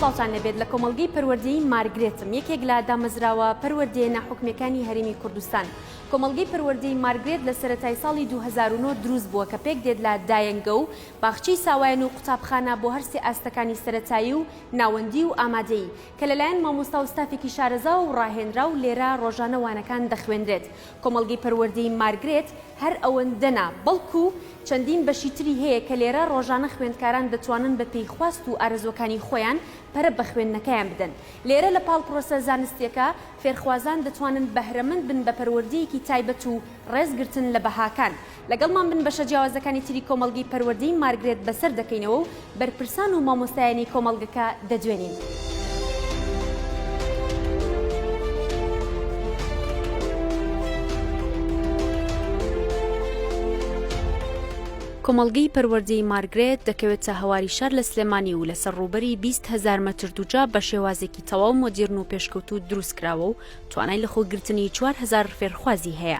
سڵاوتان لەبێت لە کۆمەلگەی پەروەردەی مارگرێتم یەکێک لە دامەزراوە پەروەردەیە ناحکمەکانی هەرمی کوردستان کۆمەلگەی پەروەردەی مارگرێت لە سەتای ساڵی 2009 دروست بووە کە پێک دێت لە دایەنگە و باخچەی ساوایان و قوتابخانە بۆ هەرسێ ئاستەکانی سەتایی و ناوەندی و ئامادەیی، کە لەلایەن مامۆستا و ستافێکی شارەزاوە و ڕاهێنراو لێرە ڕۆژانە وانەکان دەخوێنرێت. کۆمەڵگەی پەروەردەی مارگرێت هەر ئەوەندە نا، بەڵکو چەندین بەشی تری هەیە کە لێرە ڕۆژانە خوێندکاران دەتوانن بەپێی خواست و ئارەزووەکانی خۆیان پەرە بە خوێندنەکەیان بدەن. لێرە لە پاڵ پرۆسە زانستییەکە، فێرخوازان دەتوانن بەهرەمەند بن بە پەروەردەیەکی تایبەت و ڕێزگرتن لە بەهاکان. لەگەڵمان بن بەشە جیاوازەکانی تری کۆمەڵگەی پەروەردەی مارگرێت بەسەر دەکەینەوە و بەرپرسان و مامۆستایانی کۆمەڵگەکە دەدوێنین. کۆمەڵگەی پەروەردەی مارگرێت دەکەوێتە هەواری شار لە سلێمانی و لەسەر ڕووبەری بیست هەزار مەتر دووجا بە شێوازێکی تەواو مۆدیرن و پێشکەوتوو دروستکراوە و توانای لەخۆگرتنی چوار هەزار فێرخوازی هەیە،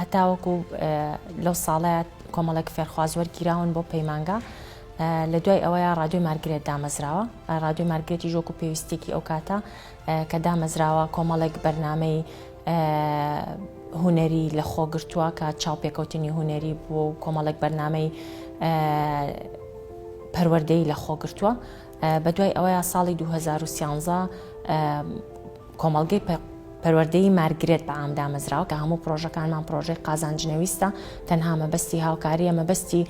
هەتاوەکو لەو ساڵەیە کۆمەڵێک فێرخواز وەرگیراون بۆ پەیمانگا لە دوای ئەوەیە رادیۆی مارگرێت دامەزراوە رادیۆی مارگرێتی ژۆک و پێویستێکی ئەو کاتە کە دامەزراوە کۆمەڵێک بەرنمەی هوەری لە خۆگرتووە کە چاوپێکەوتنی هوەری بووە و کۆمەڵێک بەرنمەی پەروەردەی لە خۆگرتووە بە دوای ئەوەیە ساڵی 2013 کۆمەڵگەی پەروەردەیی مارگرێت بە عام دامەزراوە کە هەموو پرۆژەکانمان پرۆژەی قازانجنەویستە تەنها مەبەستی هاوکاریە مەبەستی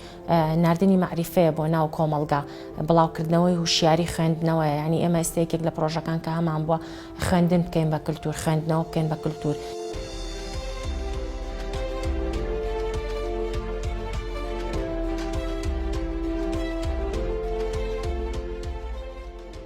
ناردنی مەعریفەیە بۆ ناو کۆمەڵگا بڵاوکردنەوەی هوشیاری خوێندنەوە ینی ئێمە ئێستەیەکێک لە پرۆژەکان کە هەمان بووە خوێندن بکەین بە کللتور خوێندنەوە بکەین بە کللتور.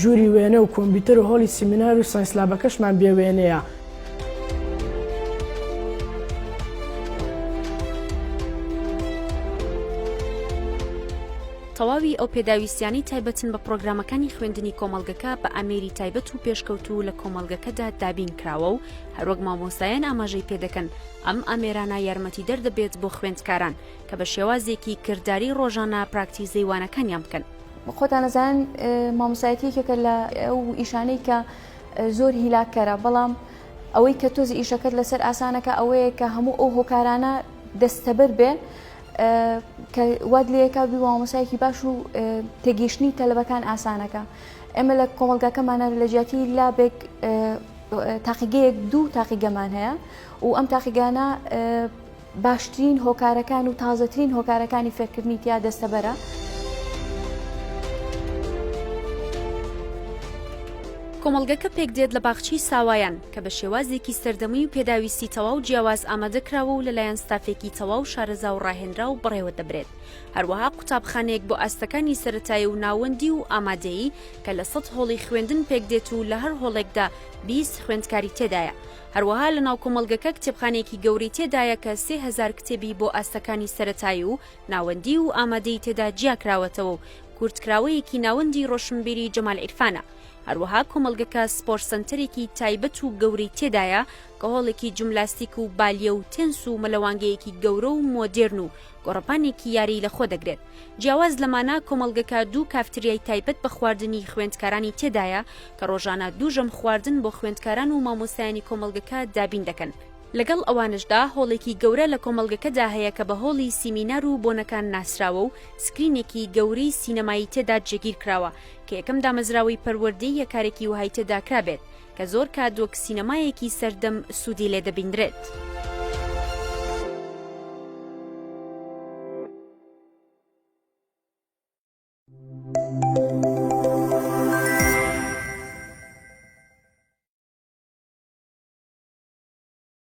ژووری وێنە و کۆمپیوتەر و هۆڵی سیمینار و ساینس لابەکەشمان بێ وێنەیە. تەواوی ئەو پێداویستیانەی تایبەتن بە پڕۆگرامەکانی خوێندنی کۆمەڵگەکە بە ئامێری تایبەت و پێشکەوتوو لە کۆمەڵگەکەدا دابین کراوە و هەروەک مامۆستایان ئاماژەی پێدەکەن ئەم ئامێرانە یارمەتیدەر دەبێت بۆ خوێندکاران کە بە شێوازێکی کرداری ڕۆژانە پراکتیزەی وانەکانیان بکەن. خۆتان ئەزانن مامۆستایەتی یەکێکە لە ئەو ئیشانەی کە زۆر هیلاککەرە بەڵام ئەوەی کە تۆزی ئیشەکەت لەسەر ئاسانەکە ئەوەیە کە هەموو ئەو هۆکارانە دەستەبەر بێ کە واد لەکە بی مامۆسایەکی باش و تێگەیشتنی تەلبەکان ئاسانەکە ئێمە لە کۆمەلگاکەمانە لە جیاتی لابێک تاقیگەیەک دوو تاقیگەمان هەیە و ئەم تاقیگانە باشترین هۆکارەکان و تازەترین هۆکارەکانی فێرکردنی تیا دەستەبەرە. کۆمەڵگەکە پێکدێت لە باخچەی ساوایان، کە بە شێوازێکی سەردەمی و پێداویستی تەواو جیاواز ئامادەکراوە و لەلایەن ستافێکی تەواو شارەزا و ڕاهێنراو بەڕێوەدەبرێت. هەروەها قوتابخانەیەک بۆ ئاستەکانی سەرەتایی و ناوەندی و ئامادەیی، کە لە سەد هۆڵی خوێندن پێکدێت و لە هەر هۆڵێکدا بیست خوێندکاری تێدایە. هەروەها لە ناو کۆمەڵگەکە کتێبخانەیەکی گەورەی تێدایە کە سێ هەزار کتێبی بۆ ئاستەکانی سەرەتایی و ناوەندی و ئامادەی تێدا جیا کراوەتەوە و کورتکراوەیەکی ناوەندی ڕۆشنبیری جەمال عیرفانە هەروەها کۆمەڵگەکە سپۆر سەنتەرێکی تایبەت و گەورەی تێدایە کە هۆڵێکی جملاستیک و بالیە و تێنس و مەلەوانگەیەکی گەورە و مۆدێرن و گۆڕەپانێکی یاری لەخۆ دەگرێت. جیاواز لەمانە کۆمەڵگەکە دوو کافتریای تایبەت بە خواردنی خوێندکارانی تێدایە کە ڕۆژانە دوو ژەم خواردن بۆ خوێندکاران و مامۆستایانی کۆمەڵگەکە دابین دەکەن، لەگەڵ ئەوانەشدا هۆڵێکی گەورە لە کۆمەڵگەکەدا هەیە کە بە هۆڵی سیمینار و بۆنەکان ناسراوە و سکرینێکی گەورەی سینەمایی تێدا جێگیر کراوە کە یەکەم دامەزراوەی پەروەردەییە کارێکی وەهای تێدا کرابێت کە زۆر کات وەک سینەمایەکی سەردەم سوودی لێ دەبینرێت.